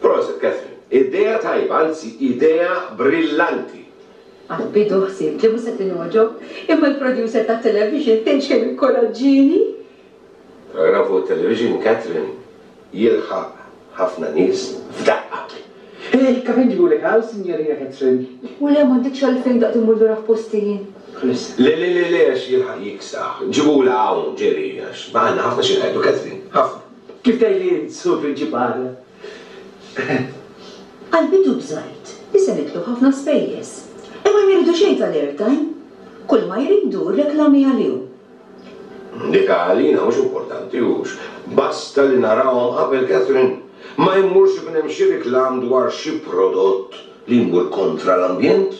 Prosit, Catherine. Idea tajba, anzi idea brillanti. Għad bidu ħsibt li mhux se tinogħġob, imma l-producer tat-television tgħidx kemm inkoraġġieni. Paragrafu fuq it-television, Catherine, jilħaq ħafna nies f'daqqa. Hej, kif inġibulek hawn, Sinjorina Catherine? U le, m'għandekx għalfejn daqt immur lura f'posti jien. Chris. Le, le, le, le, għax jilħaq jiksaħ. Ġibula hawn, Jerry, għax għandna ħafna xi ngħidu, Catherine, ħafna. Kif tgħidli int, Sur Prinċipal? Qalbi ddub żgħid, isem itlu ħafna spejjeż. Imma ma jridu xejn tal-airtime. Kulma jridu, reklami għalihom. Dik għalina mhux importanti, hux? Basta li narahom qabel Catherine. Ma jmurx ikun hemm xi riklam dwar xi prodott li jmur kontra l-ambjent?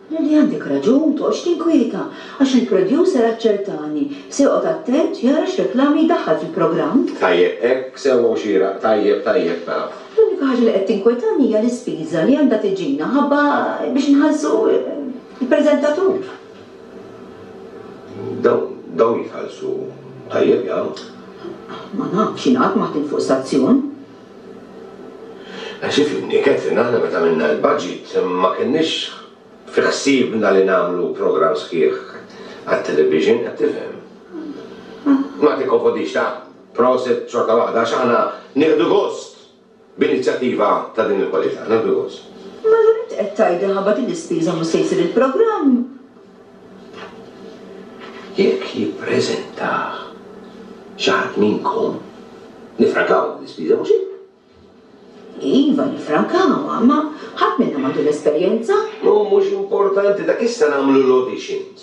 Lili għandek raġun toqgħodx tinkwieta għax il-producer aċċertani se joqgħod attent jara x'reklami jdaħħal fil-programm. Tajjeb hekk, sewwa u xieraq, tajjeb tajjeb mela. L-unika ħaġa li qed tinkwetani hija l-ispiża li għandha tiġina ħabba biex inħallsu l-preżentatur. Dawn jitħallsu tajjeb jgħid. Ma nafx, jien qatt ma ħdimt fuq stazzjon. Għax ifhimni, Catherine, aħna meta għamilna l-budget ma kenniex fi ħsiebna li nagħmlu programm sħiħ għat-television, qed tifhem? Ma tikkonfondix, ta? Prosit xorta waħda għax aħna nieħdu gost b'inizjattiva ta' din il-kwalità. Nagħmlu gost. Mela int qed tgħid li ħabba din l-ispiża mhux se jsir il-programm? Jekk jippreżentah xi ħadd minnkom, niffrankawha din l-ispiża, mhux hekk? Iva, niffrankawha, imma ħadd minna m'għandu l-esperjenza. Hu mhux importanti, dak issa nagħmlu l-auditions.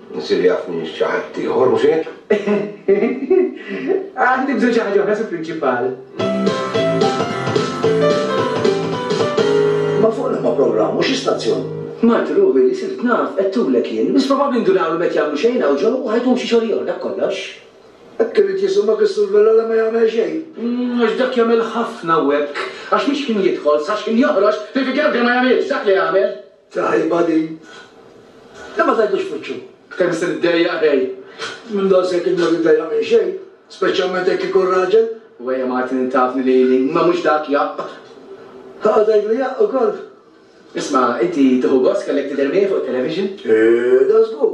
Nsir jaf minn xi ħaddieħor, mhux hekk? Għandi bżonn xi ħaġa oħra, Sur Prinċipal. Imma fuq liema programm u xi stazzjon? Mart ruħi li sirt naf, għedtulek jien. Biss probabbli ndunawlhom qed jagħmlu xejn hawn ġewwa u ħa jkun xi xogħol ieħor, dak kollox. Hekk irid jisimgħek is-Sur Vella li ma jagħmel xejn? Għax dak jagħmel ħafna u hekk. Għax mhix ħin jidħol, sa x'ħin joħroġ, fil-figura l-kbira ma jagħmilx dak li jagħmel. Tajba din. Lè ma tgħidux fuċċu. Kemm se niddejjaq ħej. Minn daqshekk int ma tiddejjaq minn xejn, speċjalment jekk ikun raġel. U ejja Martin int tafni lili, imma mhux dak jaqq. Ħa tgħidlu jaqq ukoll. Isma', inti tieħu gost kellek tidher miegħi fuq it-television? Eeh, dan żgur.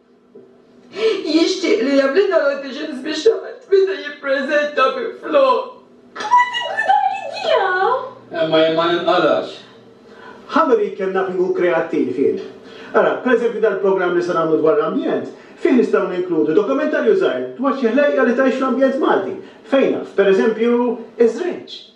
Jixtieq li jagħmlilna l-auditions biex ħadd meta jippreżenta minflok. Tmur tinkwita fl-idea! Imma jien ma ninqalax. How many you can nothing hu kreattiv jien. Ara, per eżempju dal-programm li se nagħmlu dwar l-ambjent, fih nistgħu ninkludu dokumentarju żgħir dwar xi ħlejqa li tgħix fl-ambjent Malti, fejn naf, per eżempju, iż-żrinġ.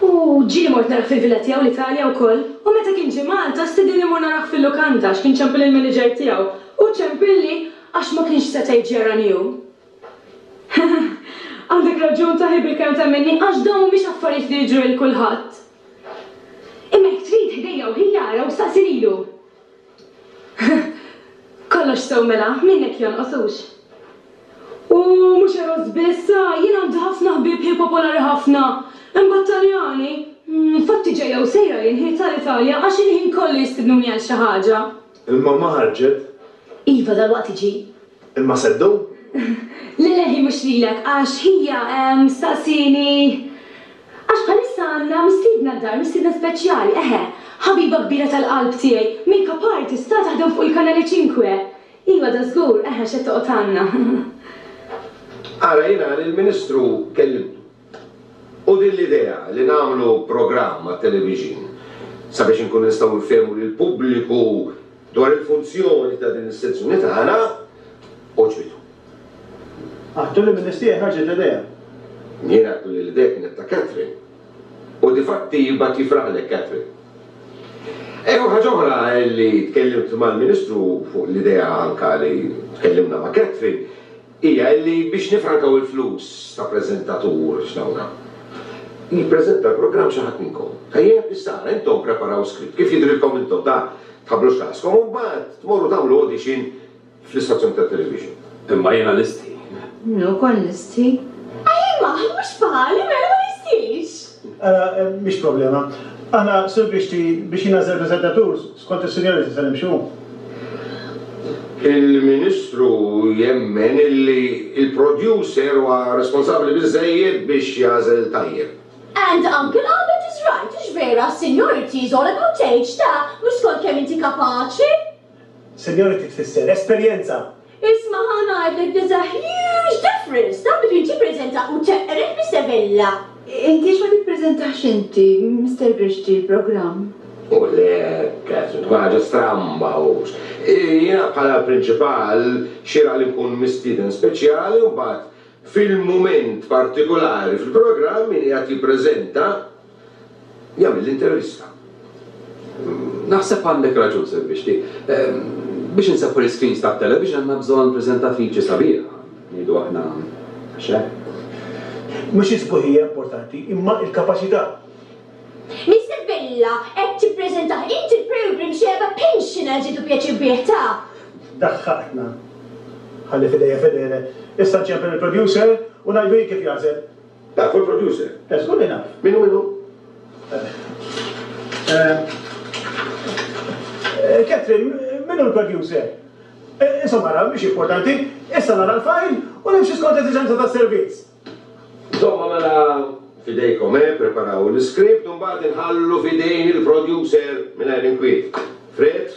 U ġieli mort narah fil-villa tiegħu l-Italja wkoll. U meta kien ġie Malta stidienni mmur narah fil-lukanda għax kien ċempilli l-meniġer tiegħu. U ċempilli għax ma kienx setgħa jiġi jarani hu. Heheh. Għandek raġun taħi bil-kelma ta' Minni għax dawn mhumiex affarijiet li jiġru lil kulħadd. Imma jekk trid ħdejja u ħi ara u staqsi lilu. Kollox sew mela, minnhekk jonqos hux? U mhux eros biss, ah, jien għandi ħafna ħbieb ħiel popolari ħafna. Hemm b'Taljani. Infatti ġejja u sejra jien ħiel tal-Italja għax il-ħin kollu jistidnuni għal xi ħaġa. Il-mamma ħarġet? Iva, dalwaqt tiġi. Imma se ddum? Le, le, hi mhux lilek għax hija staqsieni. Għax bħalissa għandna mistiedna d-dar, mistiedna speċjali, eħe, ħabiba kbira tal-qalb tiegħi, make up artist, ta' taħdem fuq il-Kanale Cinque. Iva, da żgur, eħe, x'qed toqgħod għandna. Ara, jiena lill-Ministru kellimtu. U din l-idea li nagħmlu programm għat-televixin sabiex inkunu nistgħu nfehmu lill-pubbliku Dwar il-funzjoni ta' din is-sezzjoni tagħna, għoġbitu. Għattu li mill-list tiegħi ħarġet l-idea. Jien għattu li l-idea kienet ta' Katherine. U difatti jibgħat jifraħlek Katherine. Ejjew ħaġa oħra hi li tkellimt mal-Ministru fuq l-idea anke li tkellimna ma' Katherine. hija illi biex nifrankaw il-flus ta' preżentatur f'dawna, jippreżenta l-programm xi ħadd minnkom. Tajjeb? Issa ara, intom ppreparaw script kif jidhrilkom intom, ta' tħabbru x'raskom u mbagħad tmorru tagħmlu audition fl-istazzjoni tat-television. Imma jiena nistħi. Jiena wkoll nistħi. Ajma, mhux bħali, mela ma nistħix! Ara, mhix problema. Aħna, Sur Grixti, biex jingħażel preżentatur, skont is-senjoriti se nimxu. Il-Ministru jemmen li l-producer huwa responsabbli biżżejjed biex jagħżel tajjeb. And Uncle Albert is right, hux vera, seniority is all about age, ta, mhux skont kemm inti kapaċi. Seniority tfisser esperjenza! Isma' ħa ngħid lek there's a huge difference ta' between tippreżenta u teqred bis-sevilla! Int għiex ma tippreżentax inti, Mister Grixti, l-programm? U lek, se tkun ħaġa stramba hux! Jiena bħala l-prinċipal xieraq li nkun mistieden speċjali u mbagħad fil-mument partikulari fil-programm min qiegħed jippreżenta Jagħmel l-intervista. Naħseb għandek raġun Sir Bixti. Biex inseħħu l-iscreens tat-television għandna bżonn preżentatriċi sabiħa, ngħidu aħna għax hekk. Mhux is-sbuħija importanti, imma l-kapaċità. Mister Vella, qed tippreżentah int il-programme Xebgħa Pensioners jieħdu pjaċir bih, taf. Daħħaqtna. Ħalli f'idejja Fedele. Issa nċempel il-producer u ngħidlu hi kif jagħżel. Dak hu l-producer. Eh, żgur li naf. Min hu min hu? Eh, Katherine, min hu l-producer? Eh, insomma ara, mhix importanti, issa nara l-fajl u nimxi skont l-eżiġenza tas-servizz. Insomma mela, f'idejkom, eh, preparaw l-iskript u mbagħad inħallu f'idejn il-producer mingħajr inkwiet. Fred?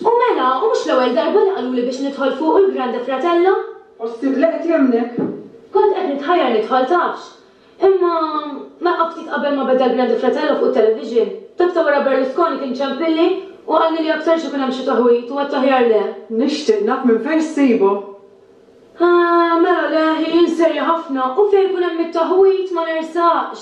U mela, u mhux l-ewwel darba li qaluli biex nidħol fuq u l-Grande Fratello. Ħossik li qed jemmnek? Kont qed nitħajjar nidħol tafx. Imma, naqaf ftit qabel ma beda l-Grande Fratello fuq it-television. Dak ta' wara Berlusconi kien ċempilli u qalli li aktarx ikun hemm xi taħwid u għedt aħjar le. Nixtieq naf minn fejn ssibhom. Ahh, mela le, hi serja ħafna, u fejn ikun hemm it-taħwid ma nersaqx!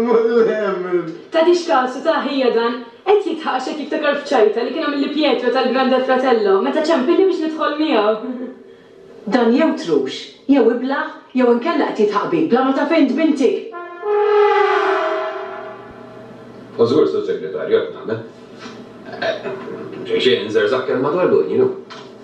Mullemm! Tagħtix kasu, ta, ħija dan. Qed jidħaq għax qed jiftakar f'ċajta li kien għamilli Pietro tal-Grande Fratello meta ċempilni biex nidħol miegħu. Dan jew trux, jew iblah, jew inkella qed jidħaq bik bla ma taf int b'intik! U żgur, Sur Segretarju, hekk nagħmel. Xejn, inżerżaq kemm madwar l-unjnu.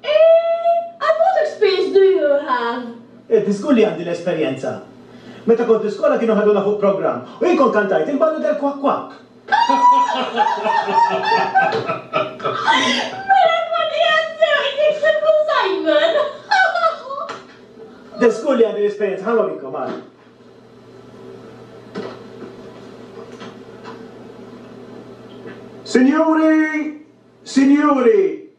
Eh, and what experience do you have? Eh, żgur li għandi l-esperjenza. Meta kont l-iskola kienu ħaduna fuq programm u jien kont kantajt il-ballu del Kwak Kwak. Mela tkun qiegħed sew qed tikseb l-Alzheimer. De żgur li għandi l-esperjenza, ħa norikom, ara. Sinjuri! Sinjuri!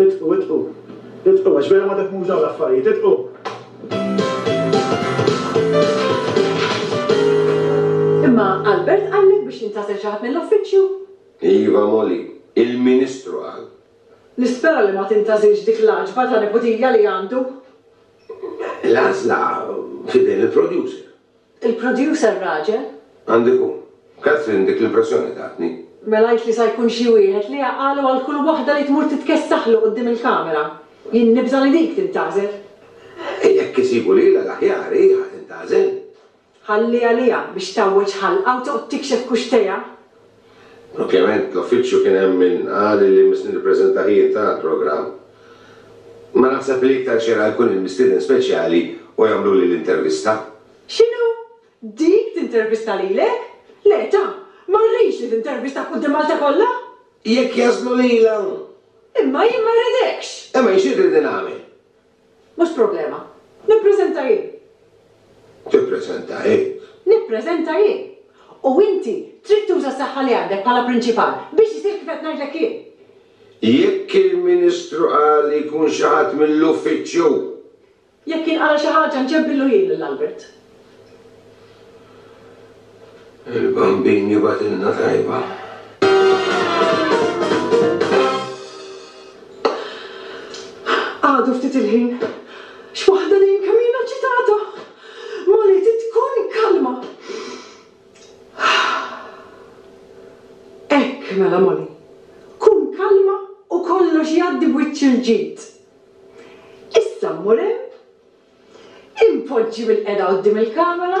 Itqu, itqu. Itqu, għax vera ma defmux dawn l-affarijiet. Itqu! Imma Albert qallek biex jintgħażel xi ħadd mill-uffiċċju? Iva, Molly. Il-Ministru qal. Nispera li ma tintgħażilx dik l-għaġba ta' niputija li għandu. L-għażla f'idejn il-producer. Il-producer raġel? Għandu jkun. Kathryn dik l-impressjoni tatni. Mela għidt li sa jkun xi wieħed li jaqgħalu għal kull waħda li tmur titkessaħlu quddiem il-kamera. Jien nibża' li dik tintgħażel. E jekk isibu lilha l-aħjar hi ħa tintgħażel. Ħalliha liha biex tgħawweġ ħalqha u toqgħod tikxef kuxtejha. Ovvjament l-uffiċċju kien hemm min qal li li se nirrepreżentah jien tara l-programm. Imma naħseb li iktar xieraq jkun hemm mistieden speċjali u jagħmluli l-intervista. X'inhu? Dik tintervista lilek? Le ta! Ma rridx li tintervistak quddiem Malta kollha! Jekk jagħżlu lilha! Imma jien ma rridekx! Imma jien xi tridni nagħmel? Mhux problema. Nippreżenta jien. Tippreżenta jien. Nippreżenta jien. U inti trid tuża s-saħħa li għandek bħala Prinċipal biex isir kif qed ngħidlek jien. Jekk il-Ministru qal li jkun xi ħadd mill-Uffiċċju. Jekk inqala xi ħaġa nġebbillu jien lil Albert. Il-Bambin jibgħatilna tajba. Għadu ftit il-ħin. X'waħda din kemm ilha ċitata! Mali trid tkun kalma. Hekk mela Mali. Kun kalma u kollox jgħaddi b'wiċċ il-ġid. Issa mmur hemm Inpoġġi bilqiegħda quddiem il-kamera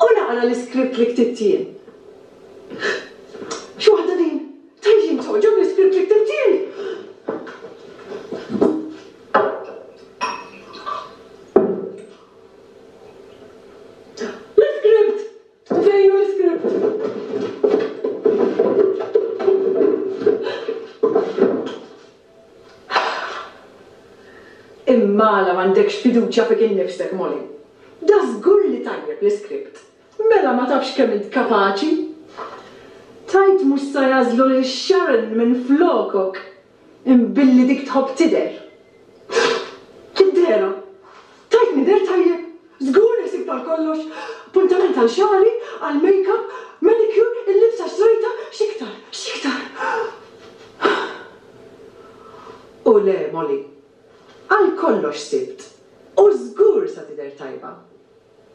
u naqra l-iskript li ktibt jien. Xi waħda din! Tant jien togħġob l-iskript li ktibt jien! L-iskript! Fejn hu l-iskript? Imma għala m'għandekx fiduċja fik innifsek, Molly? Dażgur li tajjeb l-iskript. Mela ma tafx kemm int kapaċi? Tgħid mhux sa jagħżlu lil Sharon minflokok? Imbilli dik tħobb tidher. Kiddera! Tajtni deher tajjeb! Żgur li ħsibt għal kollox! Appuntament għal xagħri, għal makeup, manicure, il-libsa xtrejtha, x'iktar? X'iktar? U le, Molly, għal kollox ħsibt u żgur sa tidher tajba!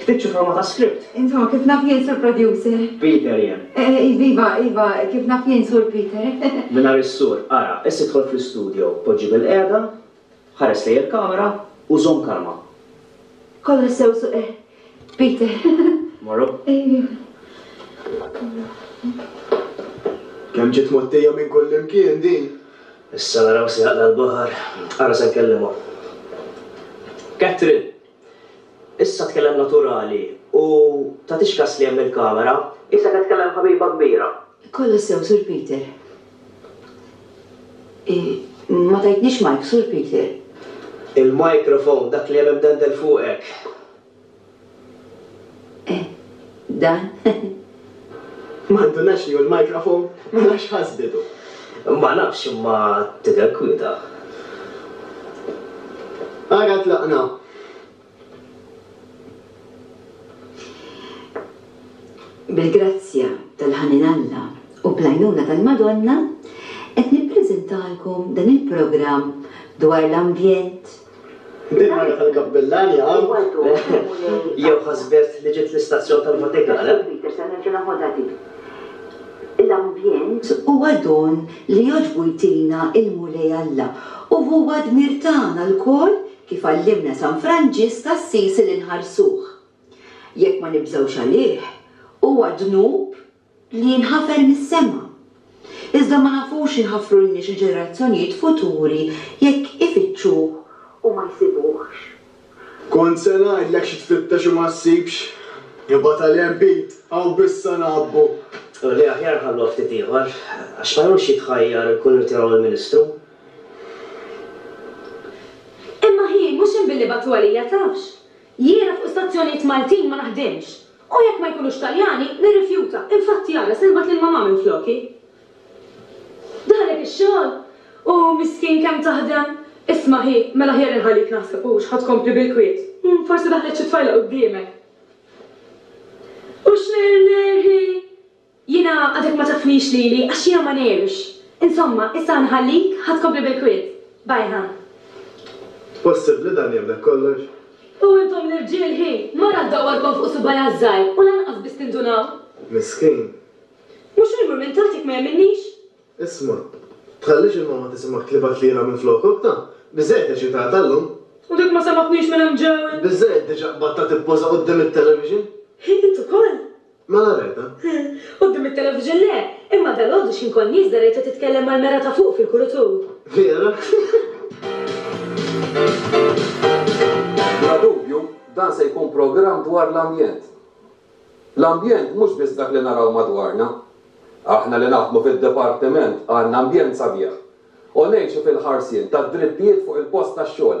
Ktibt xi forma ta' script? Insomma, kif naf jien, Sur Producer? Peter, Jien. Iva, iva, kif naf jien, Sur Peter? Mingħajr is-sur. Ara, issa idħol fl-istudio, poġġi bilqiegħda, ħares lejn il-kamera u żomm kalma. Kollox sew, Sur Peter. Mmorru? Kemm ġiet mgħottija minn kullimkien din! Issa naraw se jaqla' l-baħar. Ara se nkellimha. Katherine! Issa tkellem naturali u tagħtix kas li hemm il-kamera. Qisek qed tkellem ħabiba kbira. Kollox sew Sur Peter. Ma tajtnix mike Sur Peter. Il-microphone dak li hemm imdendel fuqek. Eh dan. Ma ndunax li hu l-microphone mela x'ħass bidu. Ma nafx imma tidher kwieta. Ara tlaqna. Bil-grazzja tal-ħanin Alla u bl-għajnuna tal-Madonna qed nippreżentalkom dan il-programm dwar l-ambjent, Il-mara tal-kappillan jaqaw. Jew ħasbet li ġiet l-istazzjon tal-Vatikan, eh? Huwa don li jogħġbu jtina l-Mulej Alla u huwa dmir tagħna lkoll, kif għallimna San Franġisk t'Assisi li nħarsuh. Jekk ma nibżgħux għalih, huwa dnub li jinħafer mis-sema. Iżda ma nafux inħafrulniex il-ġenerazzjonijiet futuri jekk ifittxuh u ma jsibuhx. Kont se ngħidlek xi tfittex u ma ssibx, imma tal-hemm bid, hawn biss sa ngħabbu. U li aħjar nħalluha ftit ieħor, għax ma jumx jitħajjar ikun irtiraw il-Ministru. Imma hi mhux hemm billi bagħtuha lija tafx? Jiena fuq stazzjonijiet Maltin ma naħdimx. U jekk ma jkunux Taljani, nirrifjuta. Infatti għala se nibgħat lil mamà minfloki? Darek ix-xogħol? U miskin kemm taħdem? Isma' ħi, mela aħjar inħallik naħseb hux ħa tkompli bil-kwiet. Hm, forsi daħlet xi tfajla quddiemek. U x'ner ner hi! Jiena għadek ma tafnix lili għax jiena ma ngħirx. Insomma, issa ħa nħallik, ħa tkompli bil-kwiet. Bye ħa. Possibbli dan jemmnek kollox? U intom l-irġiel hi! Mara ddawwarkom fuq subgħajha ż-żgħir u lanqas biss tindunaw? Miskin. Mhux hu jmur minn taħt jekk ma jemminnix? Isma', tħallix il-mamma tisimgħek tlibat lilha minflok, okta? Biżżejjed eċitata llum. U dik ma semgħatnix minn hemm ġewwa? Biżżejjed diġà qbadtha tippoża quddiem it-television? Hi int ukoll? Mela rajtha? Quddiem it-television le, imma dalgħodu x'ħin kont nieżla rajtha titkellem mal-mera ta' fuq fil-kulutur. Vera? Bla dubju, dan se jkun programm dwar l-ambjent. L-ambjent mhux biss dak li naraw madwarna. Aħna li naħdmu fid-Dipartiment għandna ambjent sabiħ u ngħixu fil-ħarsien tad-drittijiet fuq il-post tax-xogħol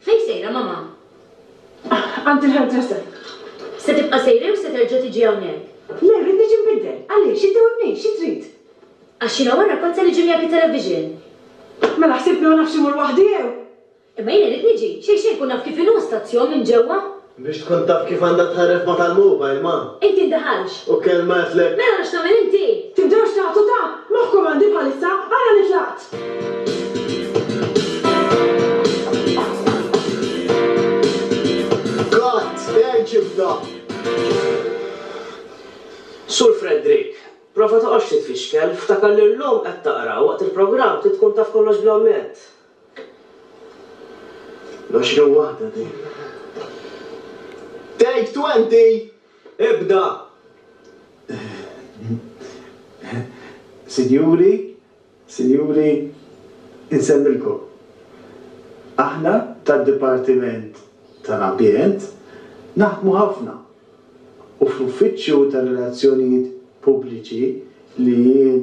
Fejn sejra mamà? Għand il-hairdresser. Se tibqa' sejra jew se terġa' tiġi hawnhekk? Le, rrid niġi nbiddel. Għaliex? Inti webnejt, xi trid? Għax jiena wara kont se niġi miegħek it-television. Mela ħsibtni ma nafx immur waħdi jew? Imma jiena rrid niġi, xejn xejn nkun naf kif inhu stazzjon minn ġewwa. Biex tkun taf kif għandha tħarref ma' tal-mobile ma'. Inti ddaħalx. U kelma għedtlek. Mela għala x'tagħmel inti? Tibdewx tagħtu ta'. Moħħkom għandi bħalissa ara li tlaqt. Gatt, għeġibna! Sur Fredrik, prova toqgħodx titfixkel, ftakar li llum qed taqra u waqt il-programm trid tkun taf kollox bl-ammett. L-għoxrin waħda din. Take twenty! Ibda! Sinjuri, Sinjuri, insellmilkom. Aħna tad-Dipartiment tal-Ambjent naħdmu ħafna u fl-Uffiċċju tar-Relazzjonijiet Pubbliċi li jien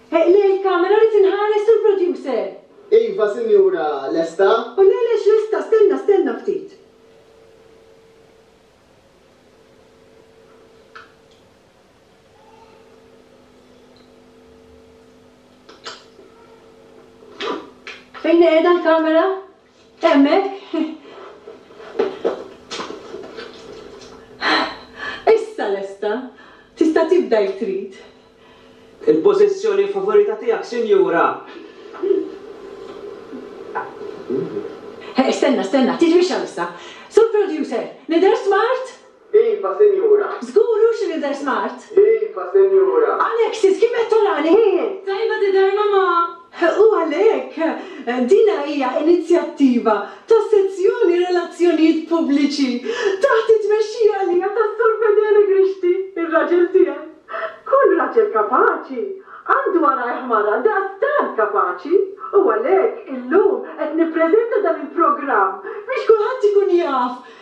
Eqleq il-kamera rrid inħares sur producer! Iva sinjura, lesta? O le le x'lesta, stenna stenna ftit. Fejn qiegħda l-kamera? Hemmhekk Issa lesta. Tista' tibda jekk trid. Il-pożizzjoni favorita tiegħek, sinjura. Stenna, stenna, titwixxaw issa. Sur Producer, nidher smart? Iva, Sinjura. Żgur, hu xi nidher smart? Iva, Sinjura. Alexis, kif qed tarani? Ħin! Tajba tidher, Mamà! U għalhekk, dina hija inizjattiva tas-Sezzjoni Relazzjonijiet Pubbliċi taħt it-tmexxija għalija tas-Sur Fedele Grixti, ir-raġel tiegħi. Kull raġel kapaċi għandu warajh mara daqstant kapaċi u għalhekk illum qed nippreżenta dan il-programm biex kulħadd ikun jaf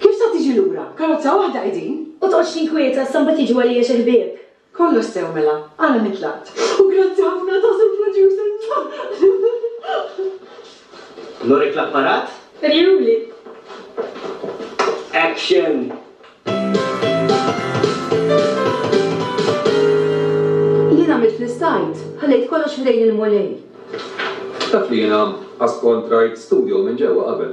Kif sa tiġi lura? Karozza waħda hi din? U tqgħodx tinkwieta sa mbagħad jiġu għalija xi ħbieb? Kollox sew mela, ara min tlaqt. U grazzi ħafna ta' Sur Producer. Nurek l-apparat? Uriehuli. Action! Jien għamilt li stajt, ħallejt kollox f'idejn il-Mulej. Taf li jiena qatt kont rajt studio minn ġewwa qabel?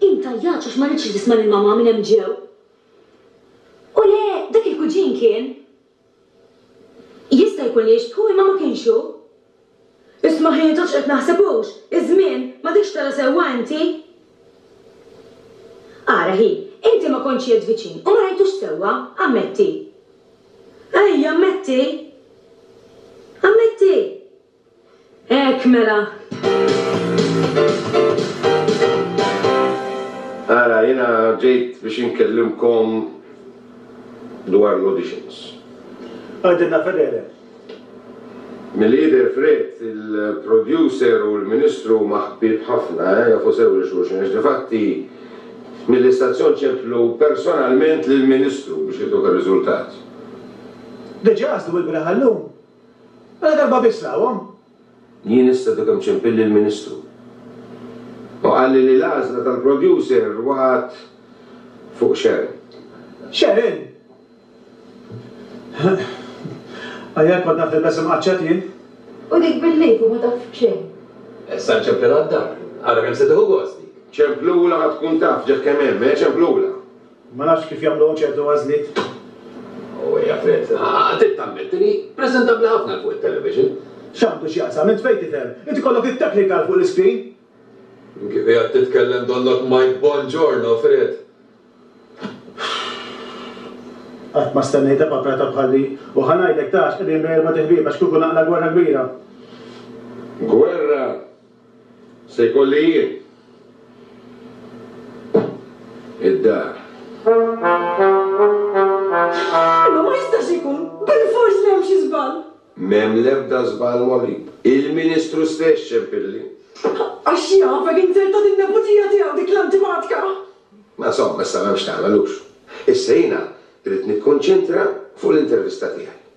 Hi tajjatx għax ma ridtx li tisma' lil mamà minn hemm ġew. U le, dak il-kuġin kien. Jista' jkun li jixbħu imma ma kienx hu. Isma' hi jidhirx qed naħseb hux, iż-żmien, m'għadekx tara sewwa inti? Ara hi, inti ma kontx qiegħed viċin u ma rajtux sewwa, ammetti. Hi, ammetti! Ammetti! Hekk mela! Ara, jiena ġejt biex inkellimkom dwar l-auditions. Għidilna Fedele. Milli jidher Fred, il-producer u l-Ministru huma ħbieb ħafna, eh, jafu sew lil xulxin għax difatti mill-istazzjon ċemplu personalment lill-Ministru biex jagħtuh ir-riżultat. Diġà qasdu il-beraħ għal-lum. Mela darba biss rahom. Jien issa dukhemm ċempilli l-Ministru u qalli li l-għażla tal-producer waqgħet fuq Sharon. Sharon? Ajja, kont naf nilbes imqaċċat jien. U dik bil-lifu ma taf b'xejn. Issa nċemplilha d-dar. Ara kemm se tieħu gost dik. Ċemplulha ħa tkun taf ġeħ kemm hemm, eh, ċemplulha. Ma nafx kif jagħmluhom ċertu għażliet. O Jafet, trid tammetti li preżentabbli ħafna 'l fuq it-television. X'għandu x'jaqsam? Int fejn tifhem? Int ikollok it-technical fuq l-iscreen. Kif qiegħed titkellem donnok Mike Bongiorno, Fred. Qatt ma stennejtha paprata bħal di. U ħa ngħidlek, tax, qegħdin bejn erbgħat iħbieb għax kieku naqla gwerra kbira. Gwerra! Se jkolli jien id-dar. Imma ma jistax ikun! Bilfors li hemm xi żball! M'hemm l-ebda żball Molib. Il-Ministru stess ċempilli. Għax jafek inzerta din-neputija tiegħu dik l-antipatka! Ma insomma, issa m'hemmx x'tagħmel, hux? Issa jiena rrid nikkonċentra fuq l-intervista tiegħi.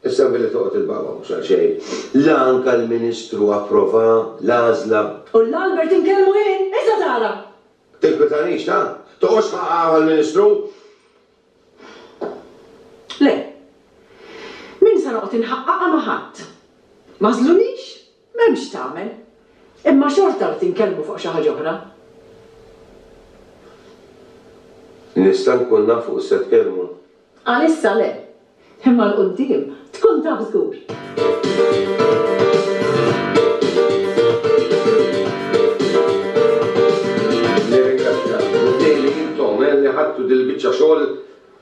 Issa billi toqgħod il-baba mhux għal xejn. La anka l-Ministru approva l-għażla. U la Albert inkellmu jien! Issa tara! Tinkwietanix, ta? Toqgħodx ħa hawn għall-Ministru! Le. M'in sa noqgħod inħaqqaqha ma' ħadd. M'għażlunix! M'hemm x'tagħmel. Imma xorta rrid inkellmu fuq xi ħaġa oħra. Nista' nkun naf fuq x'se tkellmu? Għalissa le. Imma 'l quddiem tkun taf żgur. Nirringrazzja lill-Mulej li intom li ħadtu dil-biċċa xogħol.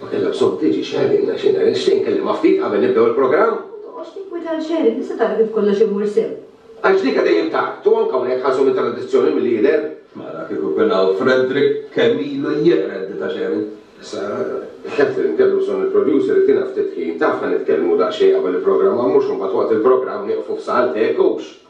Ma kellha bżonn tiġi Sharon għax jiena nixtieq nkellimha ftit qabel nibdew il-programm. Ma toqgħodx tinkweta għal Sharon, tista' tara kif kollox imur sew. Għax dik dejjem tard u anke hawnhekk ħarsu mit-tradizzjoni milli jidher. Mela kieku kien hawn Frederick kemm ilu jeqred di ta' Sharon. Issa, Katherine, kellu bżonn il-producer itina ftit ħin, tafna nitkellmu daqsxejn qabel il-programm għax mhux imbagħad waqt il-programm nieqfu f'saqal teg, hux?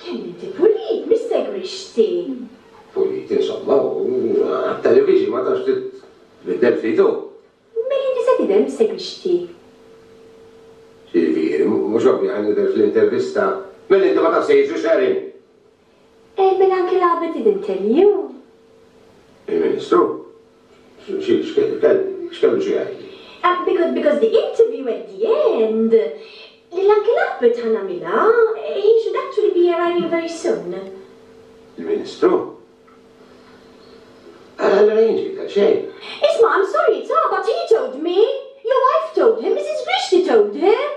Kemm inti pulit, missegwix x'sin. Pulit, insomma, u għat-television ma tafx tbiddel ftit hu. Mela inti se tidher missegwi x'ti. X'jiġifieri, mhux ovvja ħa nidher fl-intervista? Mela inti ma tafx se jiġri x'għerien. Eh, mela anke l-Għabed ibn Telliew? Il-Ministru? X'kellu xi jgħid? Because, because the interview at the end Lil Uncle Albert ħa nagħmilha, he should actually be arriving very soon. Il-Ministru? Allura jien x'ġibt għal xejn? Isma', I'm sorry, it's odd, but he told me! Your wife told him, Mrs. Grixti told him!